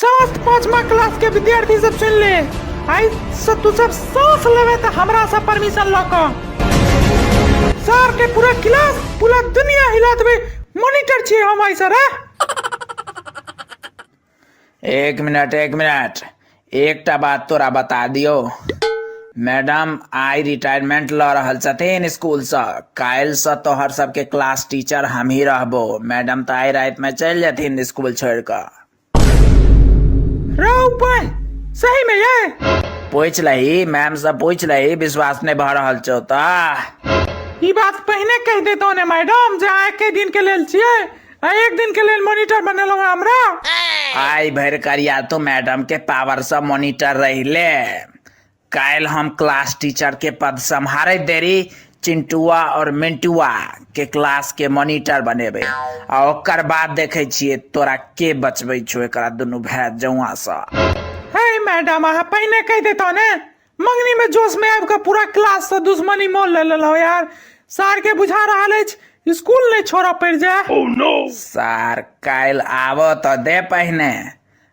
समस्त पांचवा क्लास के विद्यार्थी सब सुन ले आई से तू सब सांस लेवे त हमरा से परमिशन ल क सर के पूरा क्लास पूरा दुनिया हिला देबे मॉनिटर छी हम आई सर हाँ? एक मिनट एक मिनट एकटा बात तोरा बता दियो मैडम आइ रिटायरमेंट लऽ रहल छथिन स्कूलसँ काल्हिसँ तोहर सबके क्लास टीचर हमही रहबो मैडम तऽ आइ रातिमे चलि जेथिन स्कूल छोड़ि कऽ रौ बन सही में ये पूछ लही मैम से पूछ लही विश्वास नहीं भऽ रहल छौ तऽ ई बात पहिने कहि देतौ ने मैडम जे आइ के दिन के लेल छियै आ एक दिन के लेल मॉनिटर बनेलहुँ हमरा आइ भरि करिया तू मैडम के पावर से मॉनिटर रही ले काल्हि हम क्लास टीचर के पद सम्हारैत देरी चिंटुआ और मिंटुआ के क्लास के मॉनिटर बनेबे आ ओकर बाद देखे छिए तोरा के बचबे छो एकरा दुनू भाई जौआ से हे मैडम अहाँ पहिने कहि देतौ ने मंगनी में जोश में आबि कऽ पूरा क्लास से दुश्मनी मोल ले लेलौ यार सार के बुझा रहल अछि स्कूल नहि छोड़ऽ पड़ि जाय सार काल्हि आबऽ तऽ दे पहिने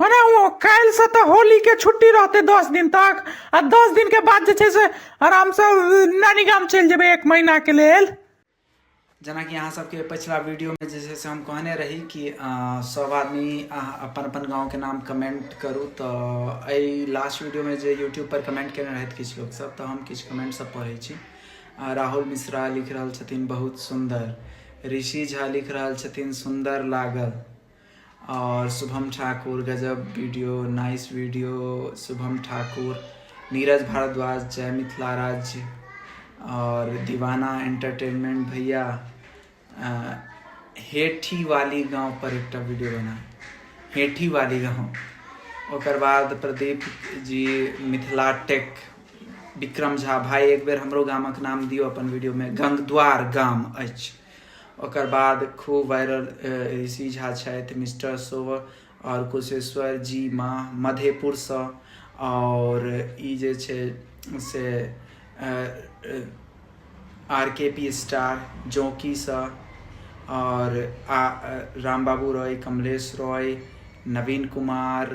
अरे ओ काल्हि से तऽ होली के छुट्टी रहते दस दिन तक आ दस दिन के बाद जे छै से आराम से नानी गाम चलि जेबै एक महीना के लेल जेनाकि अहाँ सबके पिछला वीडियोमे जे छै से हम कहने रही कि अ, सब आदमी अहाँ अपन अपन गाँवके नाम कमेंट करू तऽ एहि लास्ट वीडियोमे जे यूट्यूब पर कमेंट केने रहथि किछु लोक सब तऽ हम किछु कमेंट सब पढ़ै छी अ, राहुल मिश्रा लिख रहल छथिन बहुत सुन्दर ऋषि झा लिख रहल छथिन सुन्दर लागल और शुभम ठाकुर गजब video nice video Shubham Thakur Neeraj Bhardwaj जय मिथिला राज्य और दीवाना एंटरटेनमेंट भैया हेठी वाली गांव पर एक वीडियो बना हेठी वाली गांव ओकर बाद प्रदीप जी मिथिला टेक विक्रम झा भाई एक बेर हमरो गामक नाम दियो अपन वीडियो में गंगद्वार गाम अछि ओकर बाद खूब वायरल ऋषि झा छथि मिस्टर शो आओर कुशेश्वर जी माँ मधेपुरसँ आओर ई जे छै से आर के पी स्टार जौकीसँ आओर आ राम बाबू रॉय कमलेश रॉय नवीन कुमार